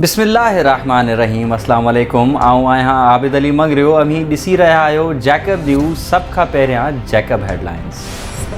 بسم الله الرحمٰن الرحيم اسلام عليڪم آئون آهيان عابد علي مڱريو اوهين ڏسي رهيا آهيو جيڪب نيوز سڀ کان پهريان جيڪب هيڊلائنز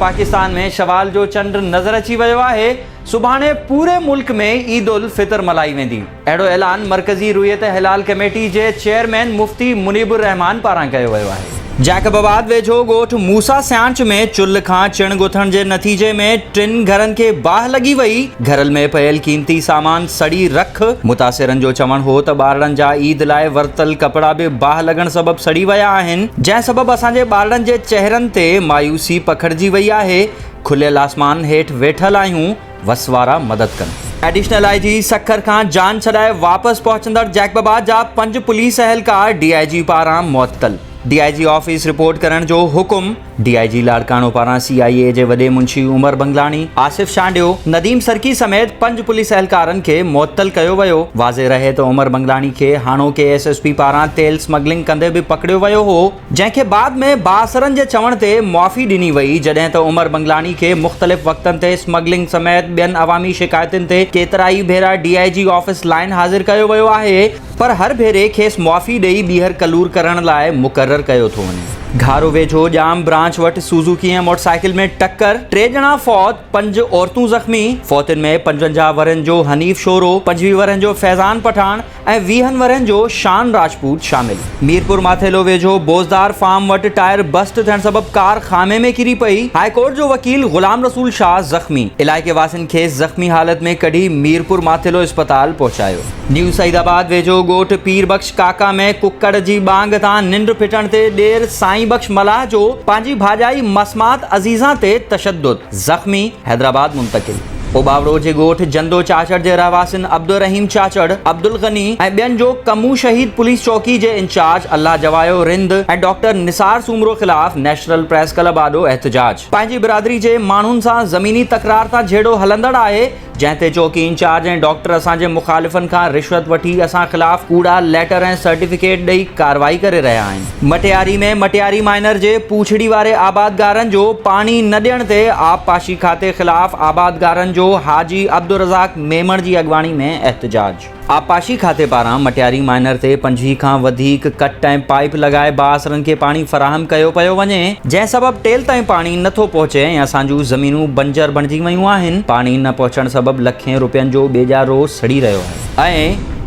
پاڪستان ۾ شوال جو چنڊ نظر اچي ويو آهي صبحاڻي پوري ملڪ ۾ عيد الفطر ملهائي ويندي. اهڙو اعلان مرڪزي رويت هلال ڪميٽي جي چيئرمين مفتي منيب الرحمان پاران ڪيو ويو آهي. جيڪب آباد ويجهو ڳوٺ موسيٰ سيانچ ۾ چلهه کان چڻ ڳٿڻ جي نتيجي ۾ ٽن گهرن کي باهه لڳي وئي، گهرل ۾ پيل قيمتي سامان سڙي رک، متاثرن جو چوڻ هو ته ٻارڙن جا عيد لاء ورتل ڪپڙا به باهه لڳڻ سبب سڙي ويا آهن، جنهن سبب اسان جي ٻارڙن جي چهرن تي مايوسي پکڙجي وئي آهي، کليل آسمان هيٺ ويٺل آهيون. وس وارا مدد ڪن. ايڊيشنل آء جي سکر کان جان ڇڏائي واپس پهچندڙ جيڪب آباد جا پنج پوليس اهلڪار ڊي آء جي پاران معطل، D I G office report ڪرڻ جو حڪم، ڊي آء جي لاڙڪاڻو پاران سي آء اي جي وڏي منشي عمر بنگلاڻي، آصف شانڊيو، نديم سرڪي سميت پنج پوليس اهلڪارن کي معطل ڪيو ويو، واضح رهي ته عمر بنگلاڻي کي هاڻوڪي ايس ايس پي پاران تيل سمگلنگ ڪندي به پڪڙيو ويو هو. جنهن کي بعد ۾ بااثرن جي چوڻ تي معافي ڏني وئي، جڏهن ته عمر بنگلاڻي کي مختلف وقتن تي اسمگلنگ سميت ٻين عوامي شڪايتن تي ڪيترائي ڀيرا D I G office line حاضر ڪيو ويو آهي پر هر ڀيري کيس معافي ڏئي ٻيهر ڪلور ڪرڻ لاء مقرر ڪيو ٿو وڃي. گهارو ويجهو ڄام برانچ وٽ سوزوڪي ۽ موٽرسائيڪل ۾ ٽڪر، ٽي ڄڻا فوت، پنج عورتون زخمي، فوتين ۾ پنجونجاهه ورهين جو حنيف شورو، پنجويهه ورهين جو فيضان پٺاڻ، ۽ ويهن ورهين جو شان راجپوت شامل. ميرپور ماٿيلو ويجهو بوزدار فارم وٽ ٽائر بسٽ ٿيڻ سبب ڪار خامي ۾ ڪري پئي، هاء ڪورٽ جو وڪيل غلام رسول شاهه زخمي، علائقي واسين کيس زخمي حالت ۾ ڪڍي ميرپور ماٿيلو اسپتال پهچايو. نيو سعيد آباد ويجهو ڳوٺ پير بخش ڪاڪا ۾ ڪڪڙ جي ٻانگ تان ننڊ ڦٽڻ تي ڏير سائين بخش ملاح جو پنهنجي ڀاڄائي مسمات عزيزان تي تشدد. زخمي حيدرآباد منتقل، اوٻاوڙو جي ڳوٺ جندو چاچڙ جي رهواسين عبدالرحيم چاچڙ، عبدالغني ۽ ٻين جو ڪمون شهيد پوليس چوڪي جي انچارج الله جوايو رند ۽ ڊاڪٽر نثار سومرو خلاف نيشنل پريس ڪلب آڏو احتجاج. پنهنجي برادري جي ماڻهن سان زميني تڪرار تان جهيڙو هلندڙ آهي، جنهن تي چوڪي انچارج ۽ ڊاڪٽر اسان جي مخالفن کان رشوت وٺي اسان خلاف ڪوڙا ليٽر ۽ سرٽيفڪيٽ ڏئي ڪارروائي ڪري رهيا آهن. مٽياري ۾ مٽياري مائنر جي پوڇڙي واري آبادگارن جو پاڻي نه ڏيڻ تي آبپاشي کاتي خلاف آبادگارن جو حاجي عبدالرزاق ميمڻ جي اڳواڻي ۾ احتجاج. آبپاشي کاتي پاران مٽياري مائنر تي پنجويهه کان وڌيڪ ڪٽ ۽ پائيپ لڳائي بااثرن کي پاڻي فراهم ڪيو پيو وڃي، جنهن سبب ٽيل تائين پاڻي نه ٿو پهچي ۽ اسان جون زمينون بنجر بڻجي ويون آهن، پاڻي نه پهچڻ سبب لکين روپين جو ٻيڄارو سڙي رهيو آهي.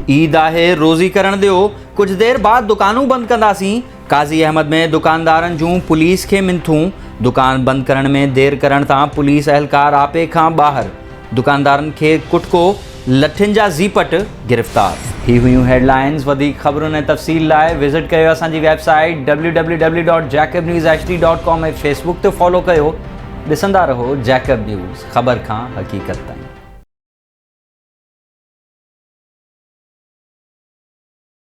اي عيد آهي روزي ڪرڻ ڏيو، ڪجهه دير بعد دڪانون بند ڪنداسين، قاضي احمد ۾ دڪاندارن جون پوليس کي منٿون، دڪان بند ڪرڻ ۾ دير ڪرڻ تان پوليس اهلڪار آپي کان ٻاهر، دڪاندارن کي ڪٽڪو، لٺين جا زيپٽ، گرفتار. هي هيون هيڊلائينز، وڌيڪ خبرن ۽ تفصيل لاء وزٽ ڪيو اسان جي website W W W dot Jacob news H D dot com ۽ Facebook تي فالو ڪيو ڏسندا رهو جيڪب نيوز خبر کان حقيقت تائين.